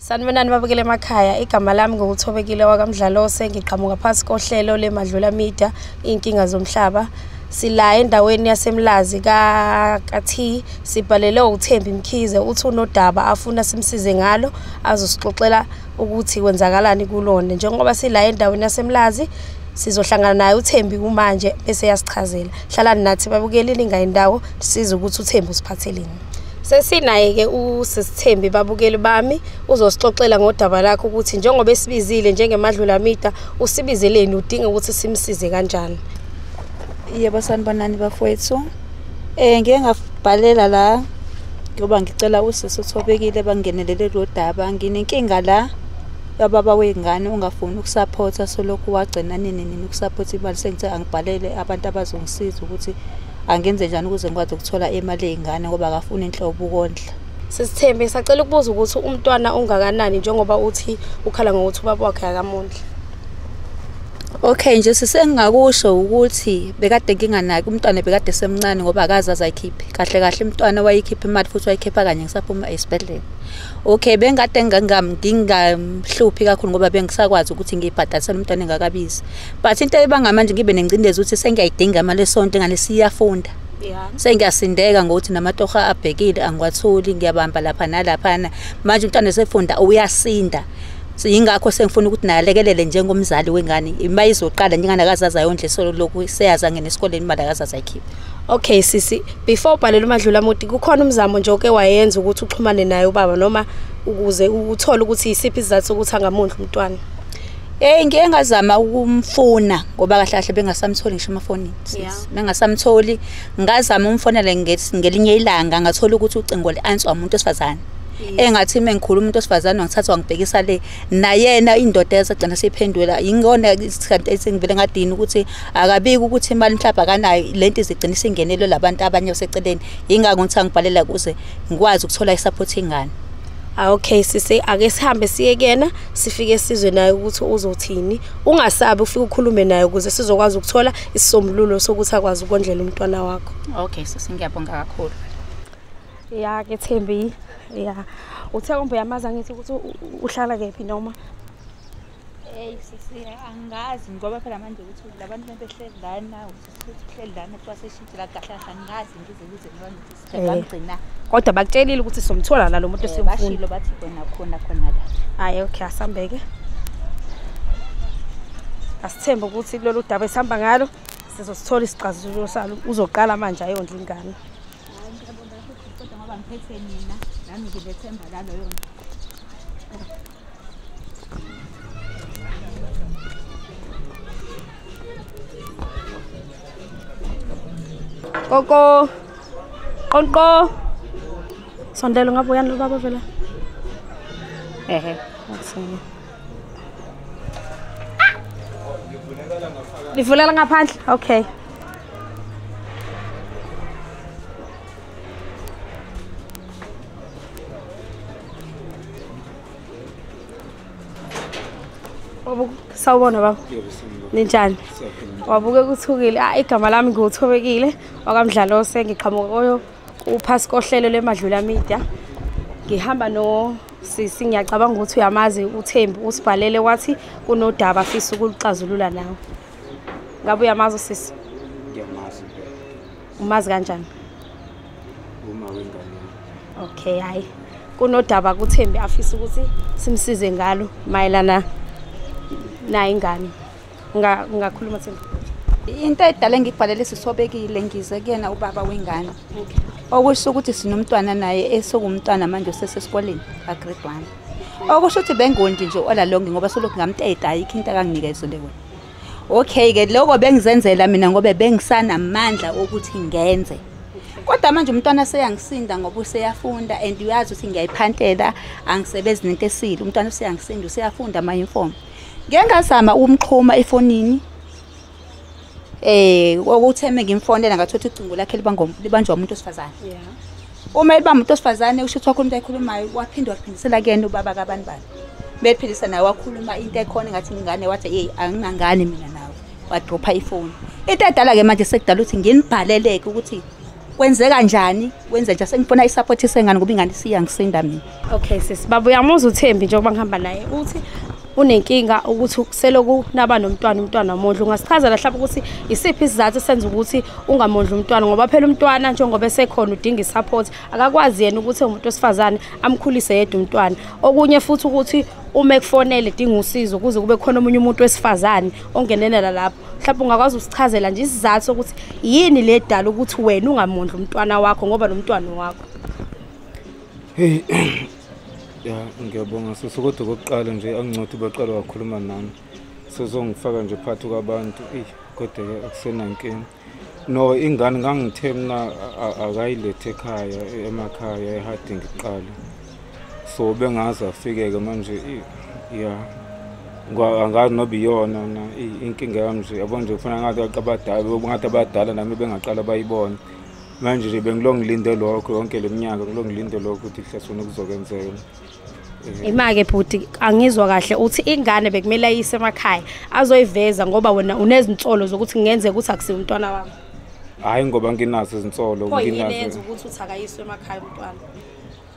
Sanibonani babukele emakhaya igama lami ngokuthobekile wakamdlalose ngiqhamuka phasi kohlelo lemadlula media inkinga zomhlaba sila endaweni yasemlazi kathi sibhalele ukuthemba imkhize uthi unodaba afuna simsize ngalo azosixoxela ukuthi kwenzakalani kulona njengoba sila endaweni yasemlazi sizohlangana naye uthembi kumanje bese yasichazela hlalani nathi babukeli ningayi ndawo size ukuthi uthembi usiphatheleni Sesinaye-ke uSisithembi babukeli bami uzosixoxela ngodaba lakho ukuthi njengoba esibizile njengemadlulamida usibizeleni udinga ukuthi simsize kanjani. Yebo sanibonani bafowethu. Eh ngeke ngabhalela la ngoba ngicela usisi uthobekile bangenelele lo daba nginenkinga la yababa wengane ungafuni ukusaphotha solokhu wagcina nini nini ukusaphotha imali sengithe angibhalele abantu abazongisiza ukuthi angenze njani ukuze ngikwazi ukuthola imali yey'ngane ngoba akafuni inhlobo ukondla sisithembe sacela ukubuza ukuthi umntwana ungakanani njengoba uthi ukhala ngokuthi ubaba wakhe akamondla Okay nje sisengakusho ukuthi bekade nginganaki umntwana bekade semncane ngoba akazi azayikhiphe kahle kahle umntwana wayikhipha imali futhi wayikhipha kanye ngisaphuma esibhedlela Okay bengade ngingamhluphi kakhulu ngoba bengisakwazi ukuthi ngibhadalisele umntwana engakabizi but into ebanga manje ngibe nengcindezi ukuthi sengiyayidinga imali esonto engane siyafunda sengiyasindeka ngokuthi namatoha abhekile angiwatholi ngiyabamba lapha nalaphana manje umntwana esefunda uyasinda yingakho sengifuna ukuthi naye alekelele njengomzali wengane uma izoqala njengani akazazi ayondle solo lokhu seyazi angene esikoleni imali akazazi ayikhiphe okay sisi before ubhalela umadlula muti kukhona umzamo nje oke wayenza ukuthi uxhumane naye ubaba noma ukuze uthole ukuthi yisiphi isizathu sokuthi angamondla umntwana Hey ngeke ngazama ukumfuna ngoba kahle kahle bengasamtholi ngisho amafoni. Yeah. Bengasamtholi ngazama umfonele ngelinye ilanga ngathola ukuthi ucingo lianswer umuntu osifazane. engathi uma ngikhuluma umuntu osifazane wangithatha wangibhekisa le nayena indoda yasagcina seyiphendula yingona isikhathi esengivele ngadini ukuthi akabiki ukuthi imali mhlawumbe akanayo le nto izigcina isingenelwe labantu abanye baseceleni yingakho ngithi angibhalela kuze ngikwazi ukuthola isaphothi ingane Ah, okay sise ake sihambe siye kuyena sifike sizwe naye ukuthi uzothini ungasabi ufike ukhulume naye ukuze sizokwazi ukuthola isisombululo sokuthi akwazi ukondlela umntwana wakho okay sise ngiyabonga kakhulu ya ke Thembi ya uthe kumbe yamaza ngithi ukuthi uhlala kephi noma hey sisi angazi ngoba phela manje ukuthi labantu behleli la nawo kodwa bakutshelile ukuthi somthola la lo muntu esimfuna bathi khona khona khona la hayi okay asambeke asithembe ukuthi kulolu daba esihamba ngalo sizosithola isixazululo salo uzoqala manje ayondla ingane kodwa ngoba ngiphethe mina nami ngilethemba laloyo Koko. Qonqo. Sondela ngabe uyani lo baba vela? Ehe, akusini. Livulela ngaphandle. Okay. sawubona baba ninjani wabuke kuthukile ah igama lami ngiwuthobekile wakamdlalose ngiqhamuka koyo uphasi kohlelo lemadlula media ngihamba no sisi ngiyacabanga ukuthi uyamazi uthembi usibhalele wathi kunodaba afisa ukuluxazulula nawe ngabe uyamazi usisi ngiyamazi umazi kanjani uma wengane okay hayi kunodaba kuthembi afisa ukuthi simsize ngalo mayelana naye ingane ungakhuluma thembi into edala engibhalele sisobekile ngize kuyena ubaba wengane okusho ukuthi sinomntwana naye esewumntwana manje osesesikoleni agrade one okusho ukuthi bengondi nje olalongi ngoba solokhu ngamteta ayikho into akanginikeza leyo okay ke lokho bengizenzela mina ngoba bengisanamandla okuthi ngenze kodwa manje umntwana seyangisinda ngoba useyafunda and uyazi ukuthi ngiyayiphantela angisebenzi nento esile umntwana useyangisinda useyafunda ama-uniform ngike ngazama ukumxhuma efonini eh okutheme ngimfonela ngathothi ucingo lakhe libanjwa umuntu osifazane yeah. uma eliba umuntu osifazane usho ukuthi wakhuluma into ayikhulumayo waphinde waphindisela kuyena ubaba kabani bani bephindisa naye wakhuluma into ekhona ngathi ngingane wathi yeyi angingangane mina nawe wadropha ifoni into edala-ke manje sekudala ukuthi nginibhaleleke ukuthi kwenzeka njani kwenze nje sengifuna isaphothi sengane ngoba ingane isiyangisinda mina Okay sis baba uyamuzwa uThembi njengoba ngihamba naye uthi unenkinga ukuthi seloku naba nomntwana umntwana wamondla ungasichaza la hlaba ukuthi isiphi isizathu senza ukuthi ungamondla umntwana ngoba phela umntwana njengoba esekhona udinga isupport akakwazi yena ukuthi umuntu osifazane amkhulise yedwa umntwana okunye futhi ukuthi uma ekufonele dinga usizo kuze kube khona omunye umuntu wesifazane ongenelela lapho mhlawumbe ungakwazi usichazela nje isizathu sokuthi yini le dala ukuthi wena ungamondla umntwana wakho ngoba nomntwana wakho Hey ya ngiyabonga sisi kodwa kokuqala nje angincothe baqala wakhuluma nami sezongifaka nje phakathi kwabantu eyi kodwa ke akusenankinga no ingane ngangithe mina akayilethe ekhaya emakhaya ehadi ngiqala so bengazi afike-ke manje ya angazi noba iyona na inkinga yami nje yabona nje kufana ngathi abadala ngathi abadala nami bengaqala bayibone manje nje bengilo ngilinde lokho yonke le minyaka ngilo ngilinde lokho ukuthi kuhlasona kuzokwenzeka Imake bhuti angizwa kahle uthi ingane bekumele ayise emakhaya azoyiveza ngoba wena unezinsolo zokuthi ngenze ukuthi akusiwe umntwana wami. Hayi ngoba nginazo izinsolo nginazo. Nginazo ukuthi uthi akayiswe emakhaya umntwana.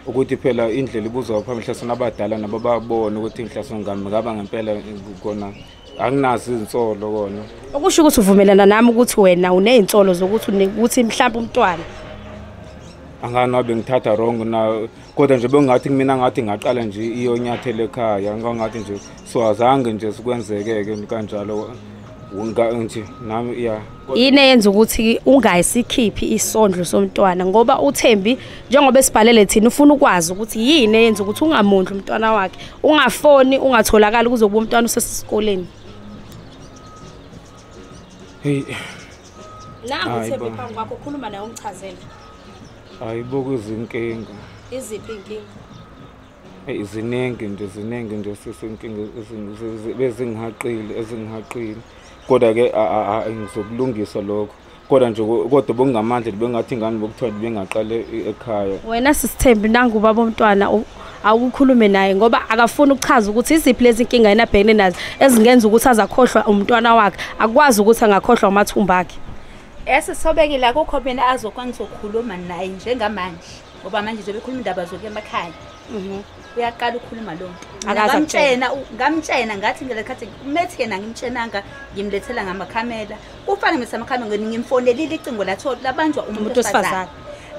ukuthi phela indlela ibuzwa phambi hlaso nabadala nabo babone ukuthi ngihlaso ngami ngaba ngempela kona anginazo izinsolo kona okusho ukuthi uvumelana nami ukuthi wena unezinsolo zokuthi ukuthi mhlawumbe umntwana anganabe ngithatha wrong na kodwa nje bengathi kumina ngathi ngaqala nje iyonyathela ekhaya ngangathi nje so azange nje sikwenzeke-ke kanjalo nje nami ya yini eyenza ukuthi ungayisikhiphi isondlo somntwana ngoba uThembi njengoba esibhalele thina ufuna ukwazi ukuthi yini eyenza ukuthi ungamondli umntwana wakhe ungafoni ungatholakala kuzokuba umntwana usesikoleni hey nangu uThembi phambi kwakho khuluma naye ungichazele hayibo kuzinkinga iziphi inkinga eyi ziningi nje ziningi nje sisi inkinga bezingihaqile ezingihaqile kodwa-ke ngizokulungisa lokho kodwa nje kodwa bokungamandla bengathi ingane bokuthiwa bengaqale ekhaya wena sisithembi nangu ubaba omntwana awukhulume naye ngoba akafuni ukuchaza ukuthi iziphi lezi nkinga yena abhekene nazo ezingenza ukuthi azakhohlwa umntwana wakhe akwazi ukuthi angakhohlwa umathumba akhe esisobekile akukho mina azokwangizokhuluma naye njengamanje ngoba manje zobe khuluma indaba zokuya emakhaya mhm. uyaqala ukhuluma lo ngamtshena ngamtshena ngathi ngelekhathi methi yena ngimtshenanga ngimlethela ngamakhamera kufane ngimlethela amakhamera ngimfonelile icingo latholi labanjwa umuntu wesifazane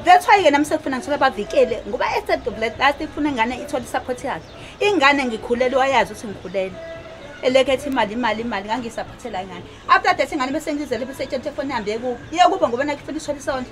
that's why yena msekufuna ngithola bavikele ngoba esedobletlast ifuna ingane ithole isupport yakhe ingane ngikhulelwe wayazi ukuthi ngikhulelwe elekhetha imali imali imali ngangisaphathela ingane after that ingane bese ngizele bese etshela ukuthi efoni ihambe kubo iye kubo ngoba nakufuna ishola isondlo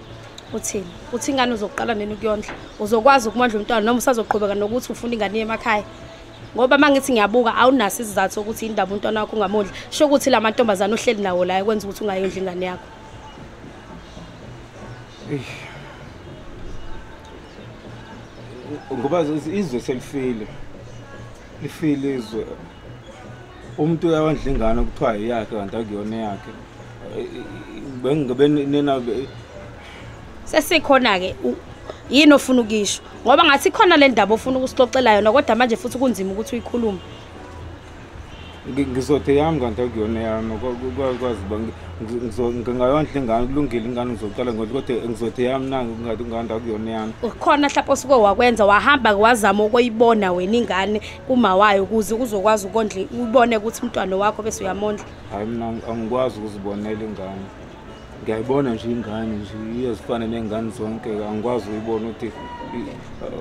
uthini uthi ingane uzoqala nini ukuyondla uzokwazi ukumondla umntwana noma usazoqhubeka nokuthi ufuna ingane yemakhaya ngoba uma ngithi ngiyabuka awunaso isizathu sokuthi indaba umntwana wakho ungamondli sho ukuthi la mantombazane ohleli nawo la ekwenza ukuthi ungayondli ingane yakho ngoba izwe selifile lifile izwe umuntu uyawondla ingane kuthiwa yeyakhe kanti akuyona eyakhe bengingebenina sesikhona-ke yini ofuna ukuyisho ngoba ngathi khona le ndaba ofuna ukusixoxela yona kodwa manje futhi kunzima ukuthi uyikhulume ngizothe yami kanti akuyona yami kwazi uba ngingayondla ingane kulungile ingane ngizoqala ngothi kodwa ngizothe yami na ngathi ingane akuyona yami khona mhlawumpe osuke wakwenza wahamba-ke wazama ukuyibona wena ingane uma wayo ukuze uzokwazi ukondla ubone ukuthi umntwana wakho bese uyamondla hayi mina angikwazi ukuzibonela ingane ngiyayibona nje ingane nje iyezifane nengane zonke angikwazi uyibona ukuthi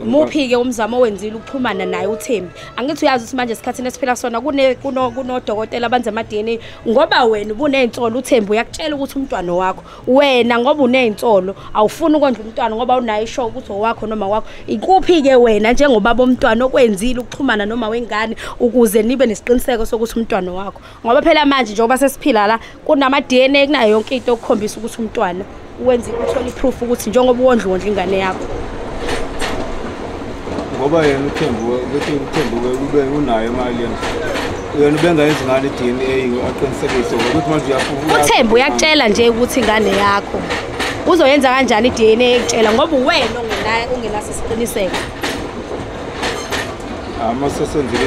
muphi-ke umzamo owenzile ukuxhumana naye uthembi angithi uyazi ukuthi manje esikhathini esiphila sona kunodokotela abanze ama-dna ngoba wena ubuney'nsolo uthembi uyakutshela ukuthi umntwana wakho wena ngoba unezinsolo awufuni ukondla umntwana ngoba unayo ishow ukuthi owakho noma wakho ikuphi ke wena njengobaba omntwana okwenzile ukuxhumana noma wengane ukuze nibe nesiqiniseko sokuthi umntwana wakho ngoba phela manje njengoba sesiphila la kunama DNA kunayo yonke into okukhombisa ukuthi umntwana wenza uthola iproof ukuthi njengoba uwondla wondla ingane yakho ngoba yena uthembuke ukuthi uthembuke ube unayo imali yena yena ubengayenzi ngani i-dna aqinisekise ngokuthi manje uyafuna uthembu uyakutshela nje ukuthi ingane yakho uzoyenza kanjani i-dna ekutshela ngoba uwena ongenaso isiqiniseko ama sesenzile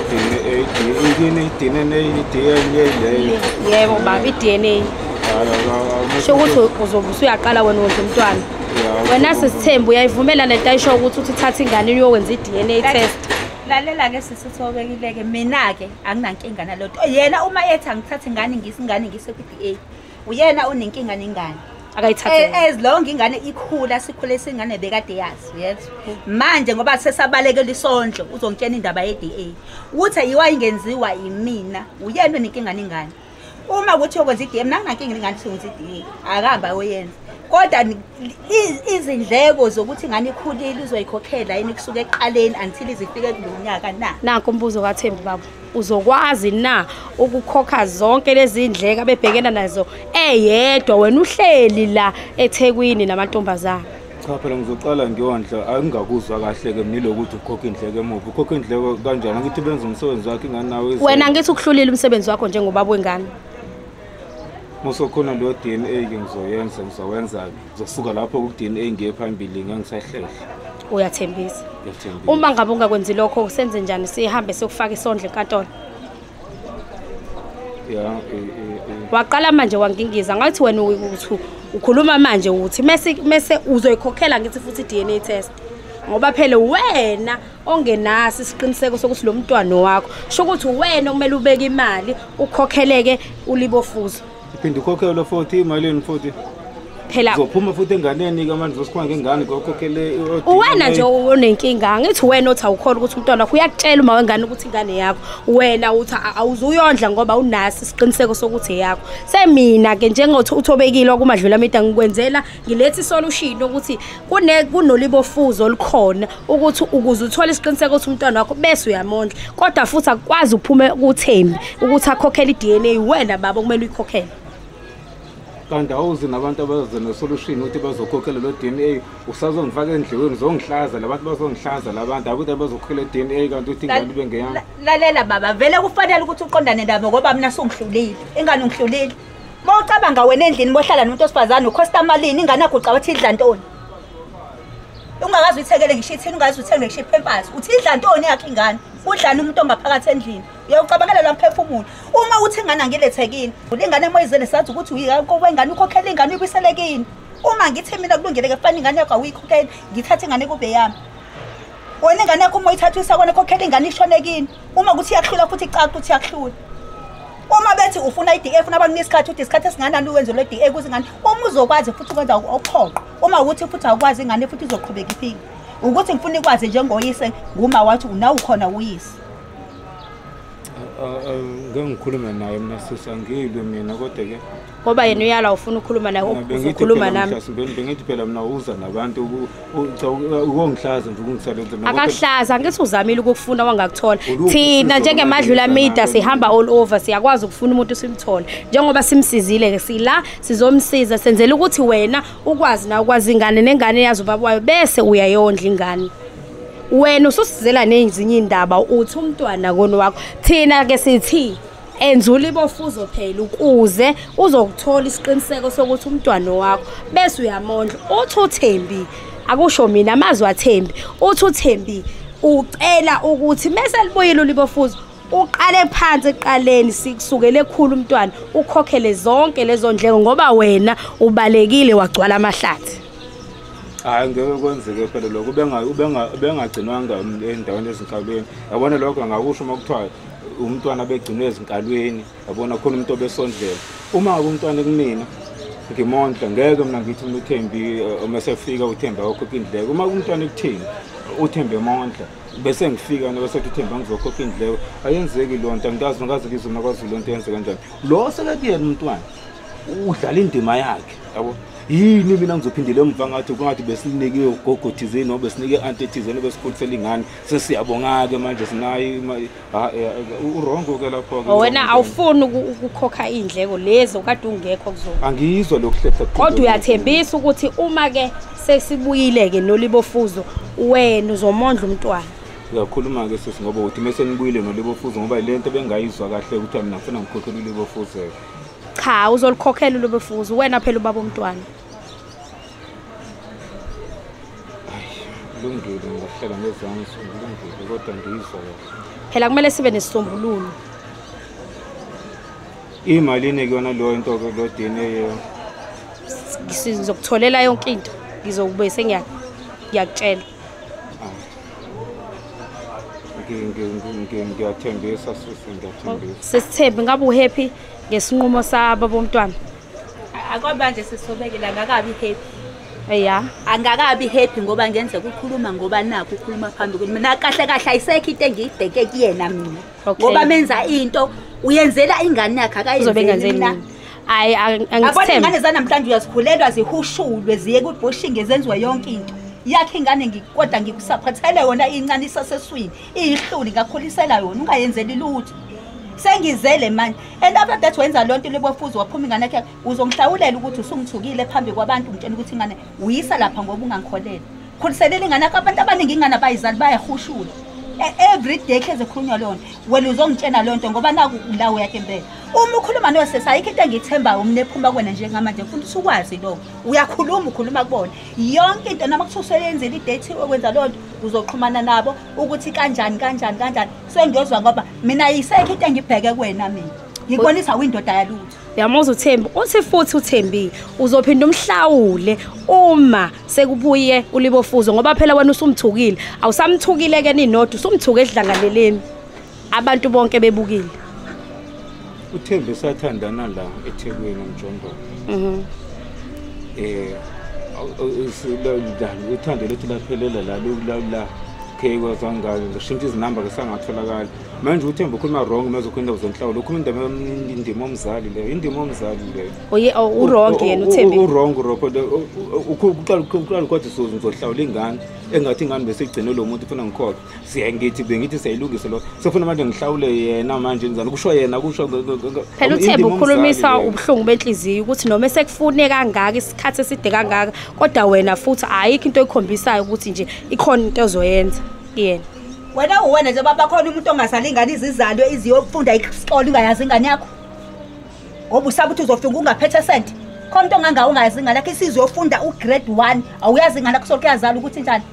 i-dna i-dna i-dna leyo yebo baba i-dna sho ukuthi uzobe usuyaqala wena wondla umntwana wena sisithembu uyayivumela lento ayisho ukuthi uthi thatha ingane uyokwenza i-dna test lalela-ke sisithi obekile-ke mina-ke anginankinga naloto yena uma ethi angithathe ingane ngisi ingane ngise ku-d a uyena onenkinga nengane as long ingane ikhula sikhule singane bekade yazi yethu manje ngoba sesabalekela isondlo uzongitshena indaba ye-d a ukuthi ayiwa ingenziwa yimina uyena onenkinga nengane uma kuthiwa kwenza i-dm nanginankinga ingane kuthiwa kwenza i-dm akahamba ayoyenza kodwa izindleko zokuthi ngane ikhulile uzoyikhokhela yini kusuke ekuqaleni until izifike kulo nyaka na nakho umbuzo kathembi baba uzokwazi na ukukhokha zonke lezi ndleko abebhekena nazo eyedwa wena uhleli la ethekwini namantombazana cha phela ngizoqala ngiyondla angingakuzwa kahle-ke mniloku ukuthi ukhokha indleko emuva ukhokha indleko kanjani angithi benza umsebenzi wakhe ingane nawe wena ngithi ukuhlulile umsebenzi wakho njengobaba wengane musokhona leyo d n a ke ngizoyenza ngizowenza-ke ngizosuka lapho ku-d n a ngiye phambili ngangisahlehla uyathembisa uma ngabe ungakwenzi lokho senze njani sihambe siyokufaka isondlo enkantolo yeah, eh, eh, eh. waqala manje wangingiza ngathi wena ukuthi ukhuluma manje ukuthi mese mese uzoyikhokhela ngithi futhi DNA test ngoba phela wena ongenasi isiqiniseko sokuthi lo mntwana wakho sho ukuthi wena okumele ubeke imali ukhokheleke ulibofuzo uphinde ukhokhelwe futhi imalini futhi phela uzophuma futhi enganeni ke manje uzosikhona ngengane ngokhokhele uwena nje onenkinga angithi wena othi awukhona ukuthi umntwana wakho uyakutshela uma wengane ukuthi ingane yakho wena uthi awuzuyondla ngoba unasi isiqiniseko sokuthi eyakho semina ke njengothi uthobekile okumadlula amida ngikwenzela ngiletha isolution ukuthi kune kunolibofuzo olukhona ukuthi ukuze uthole isiqiniseko ukuthi umntwana wakho bese uyamondla kodwa futhi akwazi ukuphume kuthembi ukuthi akhokhele iDNA wena baba kumele uyikhokhele kanti awuzi nabantu abaze nesolution ukuthi bazokhokhela lo DNA usazongifaka endleleni zongihlaza labantu bazongihlaza labantu akuthi bazokhokhela DNA kanti uthi ingane bengeyami lalela baba vele kufanele ukuthi uqondane nabo ngoba mina sungihlulile ingane ungihlulile Uma ucabanga wena endlini bohlala nomuntu osifazane ukhosta malini ingane yakho ucaba ukuthi idla ntoni? Ungakazi uyithekele ngisho ithini ungazi uthenge ngisho iphempasi. Uthi idla ntoni yakhe ingane? Udlani umuntu ongaphakathi endlini? Uyawucabangela lo mphefumulo. Uma uthi ingane angilethekini, ulingane moyizele sazi ukuthi uyika kowe ingane ukhokhela ingane uyibiselekini. Uma ngithi mina kulungile ke fanele ingane yakho awuyikhokheli, ngithathe ingane kube yami. wena ingane yakho uma uyithatha uyisakwana khokhela ingane ishone kini uma kuthi iyakuhlula futhi icaca ukuthi iyakuhlula uma bethi ufuna i-d a funa abanike isikhathi uthi isikhathi esinganani uwenzelwe i-d a kuze ingane uma uzokwazi futhi ukwenza okuphoqa uma ukuthi futhi awukwazi ingane futhi izoqhubeka iphile ukuthi ngifuna ikwazi njengoyise nguma wathi unawukhona uyise ngengikhulume naye mna sisa ngiyilwe mina kodwa-ke ngoba yena uyala ufuna ukukhuluma naye ukhuluma nami bengithi phela mina uza nabantu ukongihlaza nje ukungisebenza mina akakuhlaza ngithi uzamile ukufuna wangakuthola thina njengemadlula media sihamba all over siyakwazi ukufuna umuntu simthole njengoba simsizile ke sila sizomsiza senzela ukuthi wena ukwazi na ukwazi ingane nengane yazi ubaba wayo bese uyayondla ingane wena ususizela nezinye indaba uthi umntwana kono wakho thina ke sithi enzula ibofuzo phela ukuze uzokuthola isiqiniseko sokuthi umntwana wakho bese uyamondla uthi uthembi akusho mina amazwi athembi uthi uthembi ucela ukuthi mese libuyile ulibofuzo uqale phansi eqaleni sikusukele ekhulu umntwana ukhokhele zonke lezo ndleko ngoba wena ubalekile wagcwala amahlathi hayi ngeke kwenzeke phela lokho ubengagcinwanga endaweni ezinhlawulweni yabona lokho ngakusho uma kuthiwa umntwana abegcinwe ezinkalweni yabona khona umuntu obesondlela uma umntwana kumina ngimondla ngeke mina ngithi mina uthembi eh, uma sefika uthembi awakhokha indleko uma umntwana ekuthini uthembe mondla bese ngifika noma sethi uthemba ngizokhokha indleko ayenzeki loo nto angikazi nokazi ngizwe nakwazulu loo nto yenze kanjani lo sekekuyena umntwana udlala indima yakhe yabo yini mina ngizophindela emva ngathi kungathi besinike ugogo thizeni noma besinike i-anti thizeni obesikhulise lingane sesiyabonga-ke manje sinayo ah, eh, eh, urongo-ke lapho-ke wena awufuni ukukhokha iy'ndleko lezi okade ungekho kuzona angiyizwa lokuhlehla kodwa uyathembisa ukuthi uma-ke sesibuyile-ke nolibofuzo wena uzomondla umntwana uyakhuluma-ke sisi ngoba uthi uma senibuyile nolibofuzo ngoba yile nto bengayizwa kahle ukuthi mina ngifuna ngikhokhela ulibofuzo-ke cha uzolikhokhela ulibofuzo wena phela ubaba omntwana kulungile ngahleka ngezansi kulungile kodwa ngiyizwa phela kumele sibe nesisombululo imalini kuyona leyo into ke lo DNA sizokutholela yonke into ngizokube sengiyakutshela ngiyathembisa sisi ngiyathembisa sesithembe ngabe uhappy ngesinqumo sabo bomntwana akwamanje sisobekela ngakabi happy ya angakabi happy ngoba ngenze kukhuluma ngoba nakho ukhuluma phambi kwini mina kahle kahle ayisekho into engiyibheke kuyena mina ngoba menza into uyenzela ingane yakhe akayizobengenzela hayi angizithembe zanamhlanje uyazikhulelwa zihushulwe ziye kubhushinge zenziwe yonke into yakhe ingane kodwa ngikusaphathele yona incane isaseswini iyihluli ngakhulisela yona ungayenzeli lutho sengizele manje and after that wenza loo nto libofuzi waphuma ingane yakhe uzongihlawulela ukuthi usungithukile phambi kwabantu ngitshela ukuthi ingane uyisa lapha ngoba ungangikholele khuliselela ingane yakho abantu abaningi ingane abayizali bayahushula e, every day hleze khulunywa loo nto wena uzongitshena loo nto ngoba naku la uyakhe impela uma ukhuluma nosesi ayikho into engiyithembayo umne ephuma kwena njengamanje futhi usukwazi lokho uyakhuluma ukhuluma kubona yonke into noma kuthiwa useyenzile idate okwenza loo nto uzoxhumana nabo ukuthi kanjani kanjani kanjani sengiyozwa ngoba mina yisekho into engibheke kuwena mina ngikubonisa windoda yalutho uyamuza uthembi uthi futhi uthembile uzophinda umhlawule uma sekubuye ulibofuzo ngoba phela wena usumthukile awusamthukile ke ninodwa usumthuke edlangaleleni abantu bonke bebukile uthembe sathandana la ethekwini umjondolo mhm eh silondana uthando lethu laphelela la la okay kwazangayo ngishintsha izinamba ke sangatholakala manje uthemba ukhuluma wrong uma uzokhuluma indaba zenhlawulo ukhuluma indaba indima omzali leyo indima omzali leyo oye oh, oh, uwrong oh, yena uthembe uwrong ropo uqala uqala kodwa sozo ngizohlawula ingane engathi ingane bese igcine lo muntu ufuna ngikhokhe siyangithi bengithi siyayilungisa lo sefuna manje ngihlawule yena manje njani kusho yena kusho phela uthemba ukhulumisa ubuhlungu benhliziyo ukuthi noma esekufune kangaka isikhathi eside kangaka kodwa wena futhi ayikho into ekhombisayo ukuthi nje ikhona into ozoyenza kuyena wena uwena nje baba khona umuntu ongasali ingane izizalo iziyofunda isikole ungayazi ingane yakho ngoba usaba ukuthi uzofika ungaphethe sente khona into ongangawo ungayazi ingane yakho isizwe yofunda ugrade one awuyazi ingane yakho soke yazala ukuthi njani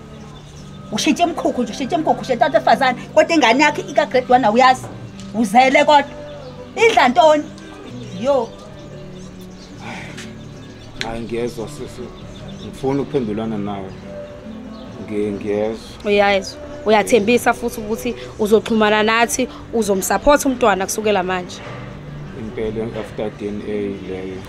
ushitshe emkhukhu nje ushitshe emkhukhu ushetha abantu efazane kodwa ingane yakhe ikagrade one awuyazi uzele kodwa idla ntoni yo hayi ngiyezwa sisi ngifuna ukuphendulana nawe ngiyezwa uyayezwa uyathembisa futhi ukuthi uzoxhumana nathi uzomsupport umntwana kusukela manje impela after DNA leyo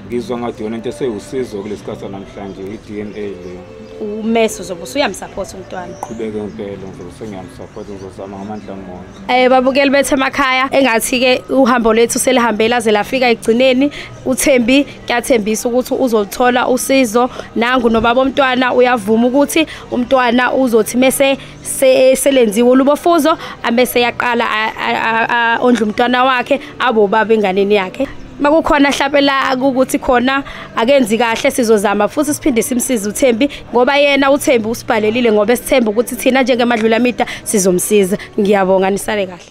ngizwa ngathi yona into esewusizo kulesikhathi sanamhlanje i-dna leyo umesi uzobe usuyamsapota umntwana qhubeke impela ngizobe sengiyamsapota ngizozama ngamandla amoya um eh, babukeli bethu emakhaya engathi-ke uhambo lwethu selihambela ze lafika ekugcineni uthembi kuyathembisa ukuthi uzoluthola usizo nangu nobaba omntwana uyavuma ukuthi umntwana uzothi mese selenziwe ulubofuzo amese yaqala ondla umntwana wakhe abo baba enganeni yakhe makukhona mhlawumbe la ukuthi khona akenzi kahle sizozama futhi siphinde simsize uThembi ngoba yena uThembi usibhalelile ngoba esithemba ukuthi thina njengemadlulamida sizomsiza ngiyabonga nisale kahle